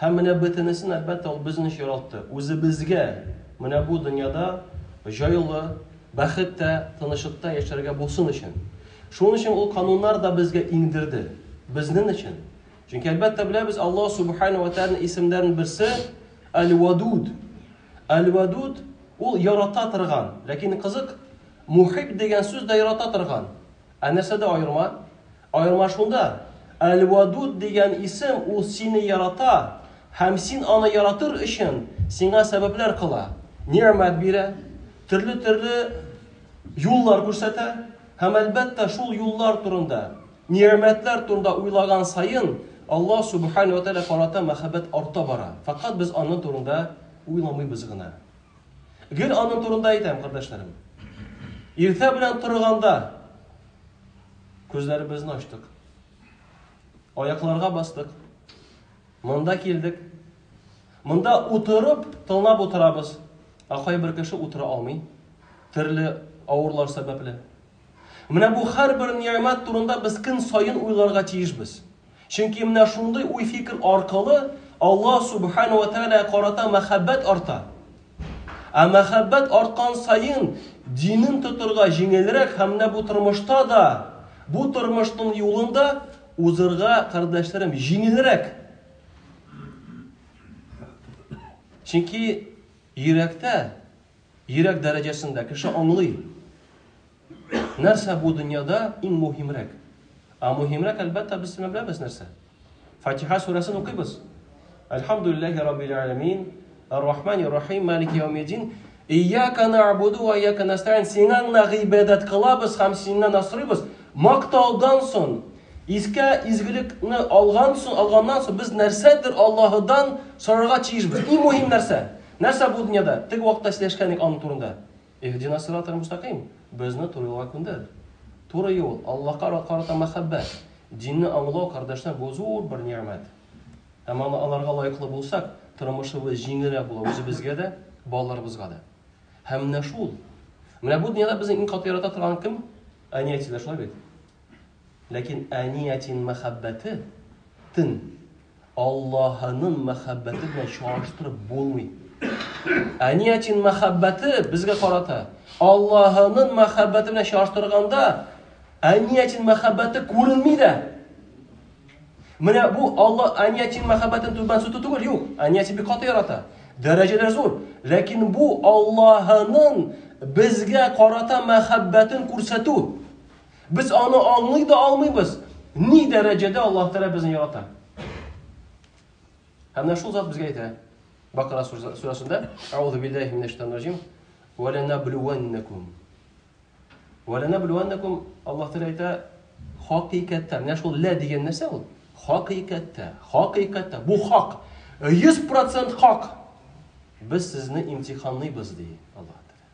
Һәм менә бөтенесен, әлбәттә, ул безне очратты. Үзебезгә менә бу дөньяда җайлы, бәхеттә, тынычлыкта яшәргә булсын өчен. Шуның өчен ул кануннар да безгә иңдерде. Безнен өчен. Чөнки, әлбәттә, беләбез, Аллаһ Субхана ва Тәгаләнең исемнәрен берсе Әл-Вадуд. Әл-Вадуд ул ярата торган. Ләкин кызык, Мухиб дигән сүз дә ярата торган. Ә нәрсәдә аерма? Аерма шунда, Әл-Вадуд дигән исем ул сине ярата һәм син аны яратыр өчен сиңа сәбәпләр кыла, нигъмәт бирә, төрле-төрле юллар күрсәтә һәм, әлбәттә, шул юллар турында, нигъмәтләр турында уйлаган саен Аллаһ Субхана ва Тәгалә карата мәхәббәт арта бара, фәкать без аның турында уйламыйбыз гына. Гел аның турында әйтәм, кардәшләрем. Иртә белән торганда күзләребезне ачтык. Аякларга бастык. Монда килдек. Монда утырып, тыңлап утырабыз. Ә кайбер кеше утыра алмый. Төрле авырлар сәбәпле. Менә бу һәрбер ниямәт турында без көн саен уйларга тиешбез. Чөнки менә шундый уй-фикер аркылы Аллаһ Сүбхәнәһү вә Тәгаләгә карата мәхәббәт арта. Ә мәхәббәт арткан саен динен тотырга җиңелрәк һәм менә бу тормышта да, бу тормышның юлында узырга, кардәшләрем, җиңелрәк. Чөнки йөрәктә, йөрәк дәрәҗәсендә кеше аңлый. Нәрсә бу дөньяда иң мөһимрәк? Ә мөһимрәк, әлбәттә, без сине беләбез нәрсә? Фатиха сүрәсен укыйбыз. Әлхамдулиллахи раббил аламин, Ар-Рахмани рахим, Малики яумиддин. Ияка набуду ва ияка настаин. Сиңа гына гыйбадәт кылабыз һәм синнән асрыйбыз. Мактаудан соң, искә изгелекне алган соң, алганнан соң без нәрсәдер Аллаһыдан сорарга тиешбез. Иң мөһим нәрсә? Нәрсә бу дөньяда? Теге вакытта сөйләшкән аны турында. Иһдина сирата мөстәкыйм, безне туры юлга күндер. Туры юл, Аллаһка карата мәхәббәт, динне аңлау, кардәшләр бу зур бер нигъмәт. Һәм аны аларга лаеклы булсак, тормышыбыз җиңелрәк була үзебезгә дә, балаларыбызга да. Һәм менә шул. Менә бу дөньяда безне иң каты ярата торган кем? Әни-әтиләр, шулай бит? Ләкин әниятин мәхәббәте тын Аллаһының мәхәббәте белән чагыштырып булмый. Әниятин мәхәббәте безгә карата Аллаһының мәхәббәте белән чагыштырганда әниятин мәхәббәте күренми дә. Менә бу Алла әниятин мәхәббәтен түбән сүтү түгел, юк. Әниятин бик каты ярата. Дәрәҗәләр зур. Ләкин бу Аллаһының безгә карата мәхәббәтен күрсәтү. Без аны аңлый да алмыйбыз. Ни дәрәҗәдә Аллаһ Тәгалә безне ярата? Һәм менә шул зат безгә әйтә. Бакара сүрәсендә, Аузу биллахи минәш шайтанир раҗим. Ва ланабливаннакум. Ва ланабливаннакум Аллаһ Тәгалә әйтә, хакыйкатьтә. Менә шул лә дигән нәрсә ул? Хакыйкатьтә. Хакыйкатьтә. Бу хак. 100% хак. Без сезне имтиханлыйбыз ди Аллаһ Тәгалә.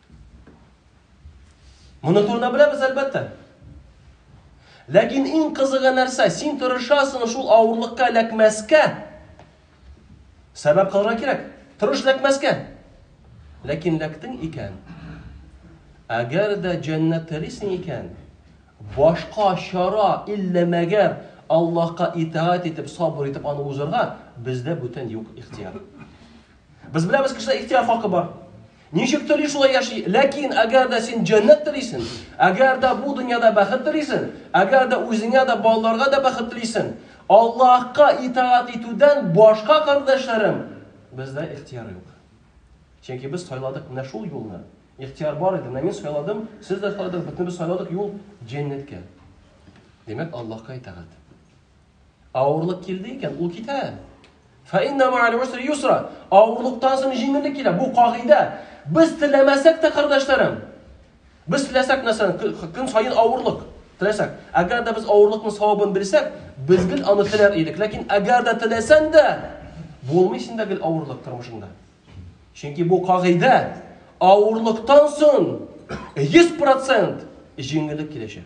Моны турында беләбез, әлбәттә. Ләкин иң кызыгы нәрсә? Син тырышасың шул авырлыкка эләкмәскә. Сәбәп кылырга кирәк. Тырыш эләкмәскә. Ләкин эләктең икән. Әгәр дә җәннәт телисең икән, башка чара иллә мәгәр Аллаһка итаат итеп, сабыр итеп аны узырга бездә бүтән юк ихтияр. Без беләбез, кешедә ихтияр хакы бар. Ничек тели шулай яши. Ләкин әгәр дә син җәннәт телисен, әгәр дә бу дөньяда бәхет телисен, әгәр дә үзеңә дә балаларга да бәхет телисен, Аллаһка итаат итүдән башка кардәшләрем бездә ихтияр юк. Чөнки без сайладык менә шул юлны. Ихтияр бар иде, менә мин сайладым, сез дә сайладыгыз, бөтенебез сайладык юл җәннәткә. Димәк, Аллаһка итаат. Авырлык килде икән, ул китә. Фаинна мааль усри юсра. Авырлыктан соң җиңеллек килә. Бу кагыйдә. Без теләмәсәк тә, кардәшләрем. Без теләсәк нәрсәне, көн саен авырлык теләсәк. Әгәр дә без авырлыкның савабын белсәк, без гел аны теләр идек. Ләкин әгәр дә теләсәң дә, булмый синдә гел авырлык тормышында. Чөнки бу кагыйдә авырлыктан соң 100% җиңеллек киләчәк.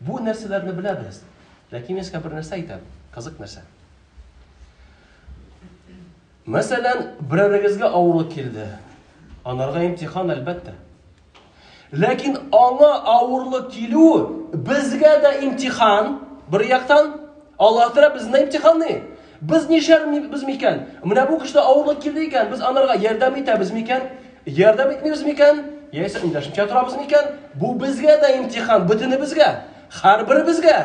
Бу нәрсәләрне беләбез. Ләкин мин сезгә бер нәрсә әйтәм. Кызык нәрсә. Мәсәлән, берәрегезгә авырлык килде. Анарга имтихан әлбәттә. Ләкин аңа авырлык килү безгә дә имтихан, бер яктан, Аллаһ Тәгалә безне имтиханлый. Без нишләрбез микән? Менә бу кешедә авырлык килде икән, без анарга ярдәм итәбез микән? Ярдәм итмибез микән? Яисә эндәшмичә торабыз микән? Бу безгә дә имтихан, бөтенебезгә, һәрберебезгә.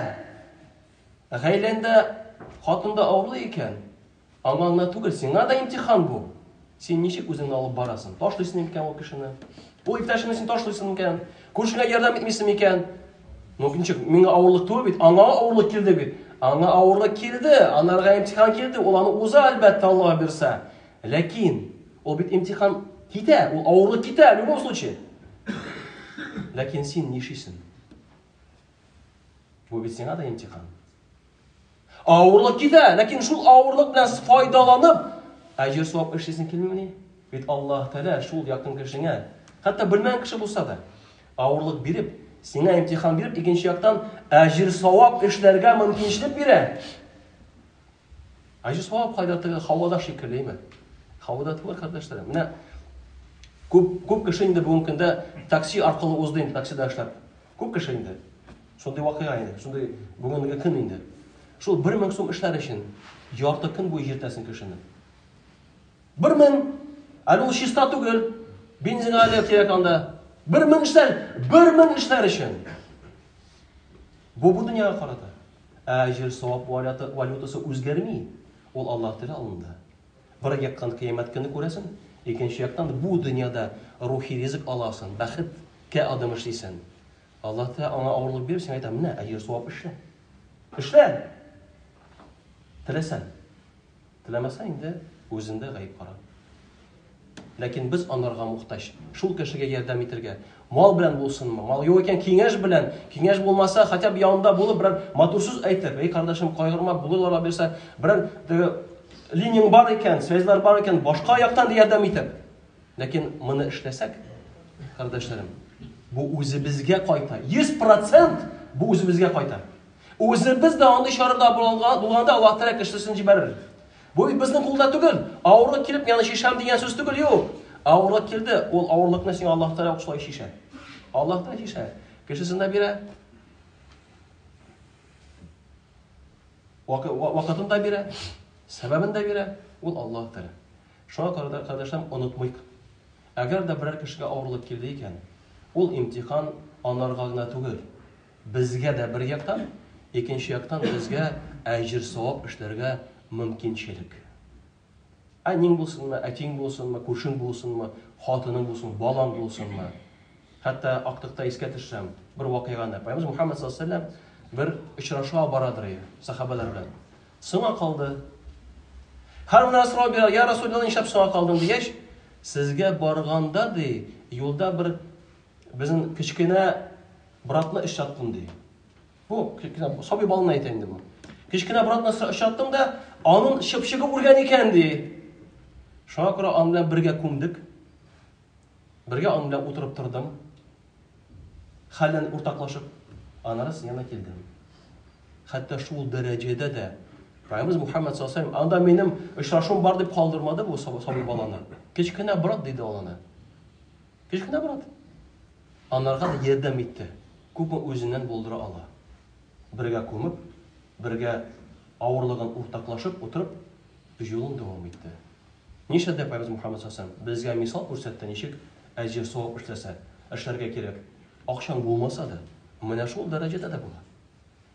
Гаиләндә хатында авырлы икән, Аңа гына түгел, сиңа да имтихан бу. Син ничек үзеңне алып барасың? Ташлыйсың микән ул кешене? Ул иптәшеңне син ташлыйсың микән? Күршеңә ярдәм итмисең микән? Ну, ничек, миңа авырлык түгел бит, аңа авырлык килде бит. Аңа авырлык килде, анарга имтихан килде, ул аны уза, әлбәттә, Аллаһ бирсә. Ләкин ул бит имтихан китә, ул авырлык китә, в любом случае. Ләкин син нишисең? Бу бит сиңа да имтихан. Авырлык китә, ләкин шул авырлык белән файдаланып, әҗер савап эшлисең килмимени? Бит Аллаһ Тәгалә шул якын кешеңә, хәтта белмәгән кеше булса да, авырлык биреп, сиңа имтихан биреп, икенче яктан әҗер савап эшләргә мөмкинчелек бирә. Әҗер савап кайда теге һавада шикеллеме? Һавада түгел, кардәшләр. Менә күп күп кеше инде бүгенге көндә такси аркылы узды инде таксида эшләп. Күп кеше инде. Шундый вакыйга инде, шундый бүгенге көн инде. Шул 1000 сум эшләр өчен ярты көн буе җиртәсен кешене. 1000 әле ул чиста түгел. Бензин әле кирәк анда. 1000 эшләр, 1000 эшләр өчен. Бу бу дөньяга карата. Әҗер савап валютасы үзгәрми. Ул Аллаһ Тәгалә алында. Бер яктан кыямәт көне күрәсен, икенче яктан бу дөньяда рухи ризык аласын, бәхет кә адым эшлисен. Аллаһ Тәгалә аңа авырлык биреп, сиңа әйтә, менә әҗер савап эшлә. Эшлә! Теләсәң. Теләмәсәң инде үзендә гаеп кара. Ләкин без анарга мохтаҗ. Шул кешегә ярдәм итергә, Мал белән булсынмы? Мал юк икән, киңәш белән. Киңәш булмаса, хотя бы янында булып, берәр матур сүз әйтеп, "Эй, кардәшем, кайгырма, булырлар аберса, берәр теге линиянең бар икән, связьлар бар икән, башка яктан да ярдәм итеп". Ләкин моны эшләсәк, кардәшләрем, бу үзебезгә кайта. 100% бу үзебезгә кайта. Үзебез дә андый чарада булганда Аллаһ Тәгалә кешесен җибәрер. Бу бит безнең кулда түгел. Авырлык килеп, яны чишәм дигән сүз түгел, юк. Авырлык килде, ул авырлыкны сиңа Аллаһ Тәгалә ук шулай чишә. Аллаһ Тәгалә чишә. Кешесен дә бирә. Вакытын да бирә, сәбәбен дә бирә, ул Аллаһ Тәгалә. Шуңа күрә кардәшләрем онытмыйк. Әгәр дә берәр кешегә авырлык килде икән, ул имтихан анарга гына түгел. Безгә дә бер яктан, икенче яктан безгә әҗер-савап эшләргә мөмкинчелек. Әниң булсынмы, әтиң булсынмы, күршең булсынмы, хатының булсынмы, балаң булсынмы. Хәтта актыкта искә төшсәм, бер вакыйганы, Пәйгамбәрбез Мухаммәд саллаллаһу алейһи ва сәлләм бер очрашуга барадыр ие, сахабәләр белән. Соңа калды. Һәр менә сорау бирә, я Расуллаллаһ, нишләп соңа калдың дигәч, сезгә барганда ди, юлда бер Безнең кечкенә братны очраттым ди. Бу кечкенә сабый балны әйтә инде бу. Кечкенә братны очраттым да, аның чыпчыгы үлгән икән ди. Шуңа күрә аның белән бергә күмдек. Бергә аның белән утырып тордым. Хәлен уртаклашып, аннары син янына килдем. Хәтта шул дәрәҗәдә дә Пайгамбарыбыз Мухаммад саллаллаху анда минем очрашуым бар дип калдырмады бу сабый баланы. Кечкенә брат диде ул аны. Кечкенә брат. Анарга да ярдәм итте, күпме үзеннән булдыра ала. Бергә күмеп, бергә авырлыгын уртаклашып утырып, юлын дәвам итте. Нишләде Пәйгамбәр Мөхәммәд салләһу галәйһи ва сәлләм? Безгә мисал күрсәтте, ничек әҗер-савап эшләсә, эшләргә кирәк. Акчаң булмаса да, менә шул дәрәҗәдә дә була.